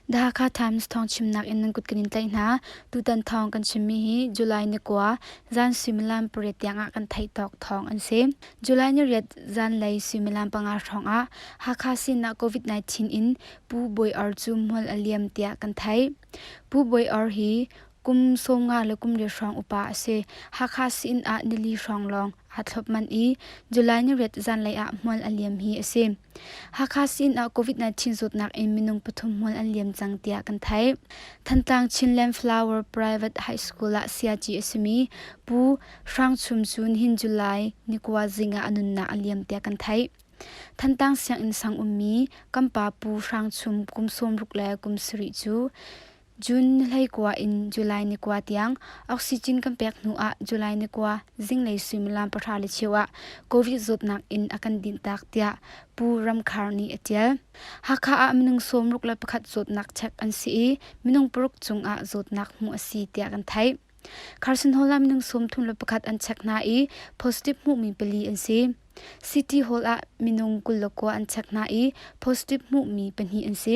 Dhaka Times thawng chimnak in nan kut kan in tlaih hna. Tutan thawng kan chimmi hi July ni kua zan suimilam pariat tiangah kan theih tawk thawng an si. July ni riat zan lei suimilam panga hrawngah Hakha sinah COVID-19 in Pu Boi Or cu mual a liam tiah kan theih. Pu Boi Or hi Kum sawmnga le kum li hrawng upa a si. Hakha sin ah nili hrawng lawng aa thlop manh i July ni riat zanlei ah hmual a liam hi a si. Hakha sin ah COVID-19 zawtnak in minung pathum hmual an liam cang tiah kan theih. Thantlang Chinland Flower Private High School ah siaci a simi Pu Hrang Chum cu nihin July ni kua zing ah a nunnak a liam tiah kan theih. Thantlang sianginn sang ummi Kampa Pu Hrang Chum kum sawmruk le kum sarih cu June ni hleikua in July ni kua tiang oxygen kan pek hnu ah July ni kua zinglei suimilam pahra le cheu ah Covid zawtnak in a kan dinhtak tiah Pu Ramkhar nih a ṭial. Hakha ah minung sawmruk le pakhat zawtnak check an si i minung paruk cungah zawtnak hmuh a si tiah kan theih. Carson Hall ah minung sawmthum le pakhat an check hna i positive hmuhmi pali an si. City Hall ah minung kul le kua an check hna i positive hmuhmi pahnih an si.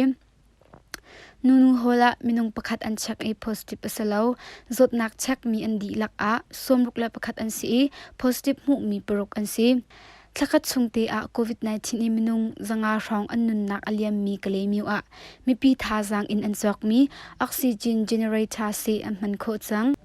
Nunu Hall ah minung pakhat an check i positive a si lo. Zawtnak checkmi an dihlak ah sawmruk le pakhat an si i positive hmuhmi paruk an si. Thlakhat chung te ah COVID-19 i minung zanga hrawng an nunnak a liammi Kalemiu ah mipi thazaang in an cawkmi oxygen generator se an hman khawh cang.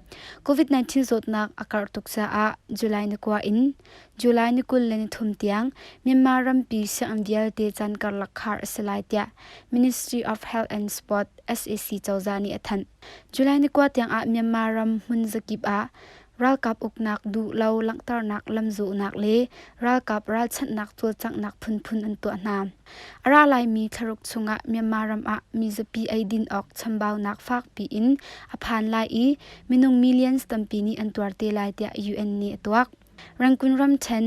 COVID-19 zawtnak a karh tuk caah July ni kua in July ni kul le ni thum tiang Myanmar rampi sianginn vialte caan karlak khar a si lai tiah Ministry of Health and Sport SAC cozah nih a thanh. July ni kua tiangah Myanmar ram hmun zakip ah ralkap uknak duh lo langhternak lamzuhnak le ralkap ralchanhnak cawlcanghnak phunphun an tuah hna. A ra laimi thlaruk chungah Myanmar ram ah mi zapi eidin awk chambaunak fakpi in a phan lai i minung millions tampi nih an tuar te lai tiah UN nih a tuak. Rangoon ram ṭhen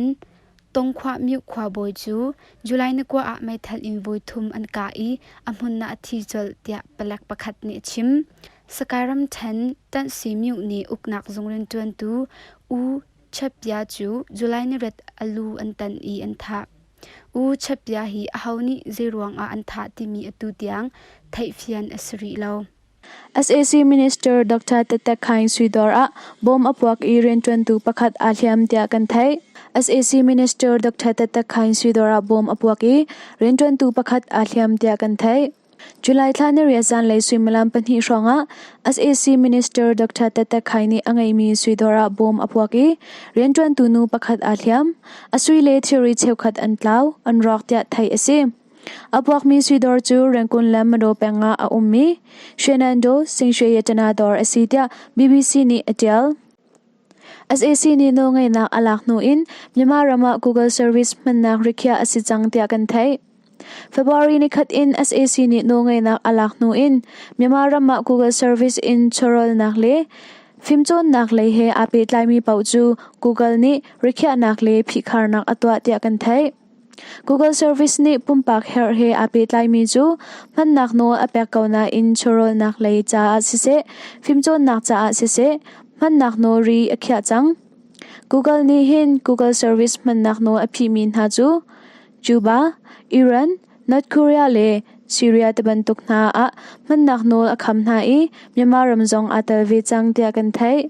Tongkhwa Myu khuabawi cu July ni kua ah meithal in voi thum an kah i a hmunna a thi colh tiah palek pakhat nih a chim. Sakae ram ṭhen Ṭanhsi Myu nih uknak zung rianṭuantu U Chapbia cu July ni ret a lu an tan i an thah. U Chapbia hi aho nih zeiruangah an thah timi atu tiang theihfian a si rih lo. sac minister dr tatak khain suidor ah bom a puak i rianṭuantu pakhat aa hliam tiah kan theih sac minister dr tatak khain suidor ah bom a puak i rianṭuantu pakhat aa hliam tiah kan theih July thla niriat zanlei suimilam pahnih hrawngah sac minister Dr. Tete Khai nih a ngeimi sui dawr ah bawm a puak i rianṭuantu nu pakhat aa hliam, a sui le thilri cheukhat an tlau, an rawk tiah theih a si. A puakmi sui dawr cu Rangoon le Madaw peng ah a ummi Shenandoah Singshwe Yatana dawr a si tiah BBC nih a ṭial. SAC nih nawlngeihnak a lak hnu in Myanmar ram ah Google service hmannak rikhiah a si cang tiah kan theih. February ni khat in SAC nih nawlngeihnak a lak hnu in Myanmar ram ah Google service in chawrawlnak le fimcawnnak lei he aa pehtlaimi paoh cu Google nih rikhiahnak le phihkharnak a tuah tiah kan theih. Google Service nih pumpak herh he aa pehtlaimi cu hmannak nawl a pek ko nain chawrawlnak lei caah siseh, fimcawnnak caah siseh hmannak nawl ri a khiah cang. Google nih hin Google Service hmannak nawl a phihmi hna cu Cuba, Iran, North Korea le Syria tibantuk hna ah hmannak nawl a kham hna i Myanmar ram zong aa tel ve cang tiah kan theih.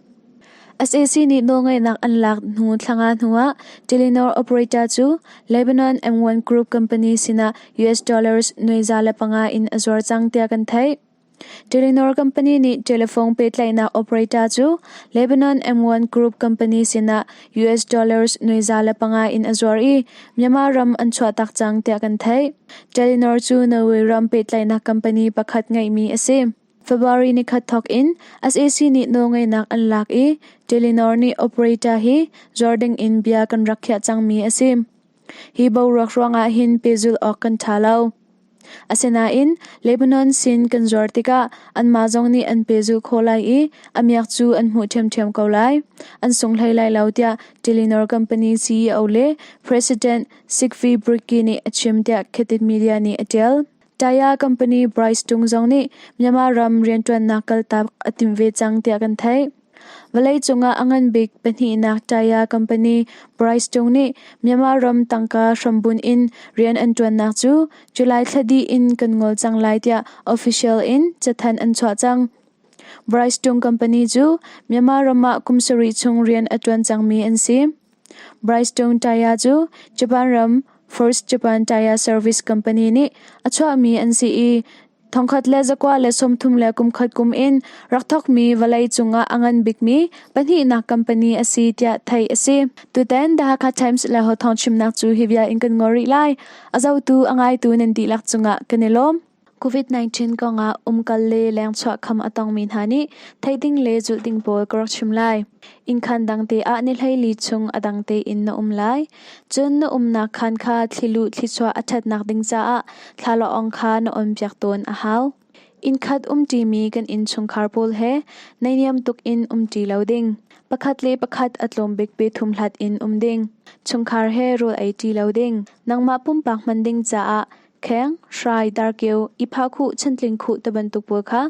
Sac nih nawlngeihnak an lak hnu thlanga hnuah Telenor operator cu Lebanon M1 Group company sinah US dollars nuaiza le panga in a zuar cang tiah kan theih. Telenor company nih telephone pehtlaihnak operator cu Lebanon M1 Group company sinah US dollars nuaiza le panga in a zuar i Myanmar ram an chuahtak cang tiah kan theih. Telenor cu Norway ram pehtlaihnak company pakhat ngeihmi a si. February ni khat thawk in sac nih nawlngeihnak an lak i Telenor nih operator hi zuar ding in bia kan rak khiah cangmi a si. Hi boruak ruangah hin pehzulh awk kan ṭha lo. Asinain Lebanon sin kan zuar tikah anmah zong nih an pehzulh khawh lai i a miak cu an hmuh ṭhiamṭhiam ko lai. An sung hlei lai lo tiah Telenor company CEO le President Sikvi Britki nih a chim tiah Cathid Media nih a ṭial. Taya company Bryce Tung zong nih Myanmar ram rianṭuannak kaltak a timh ve cang tiah kan theih. Vawleicung ah a ngan bik pahnihnak Taya company Bryce Tung nih Myanmar ram tangka hrambunh in rian an ṭuannak cu July thla dih in kan ngol cang lai tiah official in cathanh an chuah cang. Bryce Tung company cu Myanmar ram ah kum sarih chung rian a ṭuan cangmi an si. Brystone Tyre cu Japan ram First Japan Tyre Service Company nih a chuahmi an si i thongkhat le zakua le sawmthum le kumkhat kum in rak thawkmi vawlei cungah a ngan bikmi pahnihnak company a si tiah theih a si. Tutan The Hakha Times le Ho Thawng chimnak cu hi bia in kan ngol rih lai. A zotu a ngaitu nan dihlak cungah kan i lawm. COVID-19 kong ah umkal le lengchuah kham a tongmi hna nih theih ding le zulh ding pawl ka rak chim lai. Innkhan dang te ah nihleili chung a dang tein na um lai. Cun na umnak khan kha thlilu thlichuah a ṭhatnak ding caah thlalaawng kha na onpiak tawn a hau. Innkhat umṭimi kan innchungkhar pawl he neiniam tuk in umṭi lo ding. Pakhat le pakhat a tlawm bik pe thum hlat in um ding. Chungkhar he rul ei ṭi lo ding. Nangmah pumpak hman ding caah kheng hrai darkeu i phakhuh chantling khuh ti bantuk pawl kha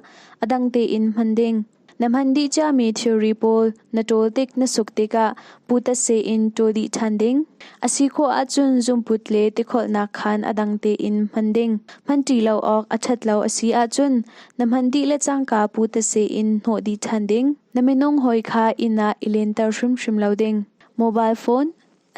a dang tein hman ding. Na hman dih ciami thilri pawl na ṭawl tik na suk tikah putasei in ṭawl dih ṭhan ding. A si khawh ahcun zungput le tikholhnak khan a dang tein hman ding. Hman ṭi lo awk a ṭhat lo a si ahcun na hman dih le cangka putasei in hnawh dih ṭhan ding. Na minung hawi kha inn ah i lenter hrimhrim lo ding. Mobile phone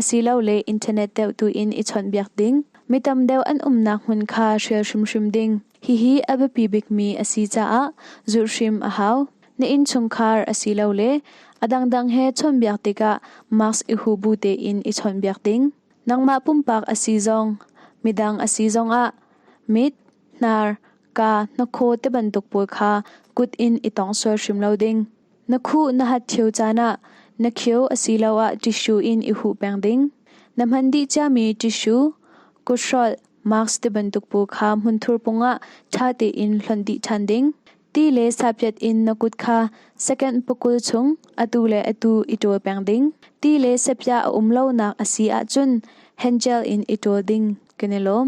Asilole internet deuh tuin i chawnhbiak ding, mi tam deuh an umnak hmun kha hrial hrimhrim ding, hihi a biapi bikmi a si caah zulhhrim a hau. Na innchungkhar asilole a dangdang he chawnhbiak tikah mask i hubu tein i chawnhbiak ding. Nangmah pumpak a si zong, midang a si zongah mit, hnar, kaa, hnakhaw ti bantuk pawl kha kut in i tong sual hrim lo ding. Na khuh na hat ṭhio caan ah na khio asiloah ṭissue in i huh peng ding. Na hman dih ciami ṭissue, kuthrolh, mask tibantuk paw kha hmunthur pungah ṭha tein hlonh dih ṭhan ding. Ti le sapyat in na kut kha second pakul chung atu le atu i ṭawl peng ding. Ti le sapya a um lonak a si ahcun hengel in i ṭawl ding kan i lawm.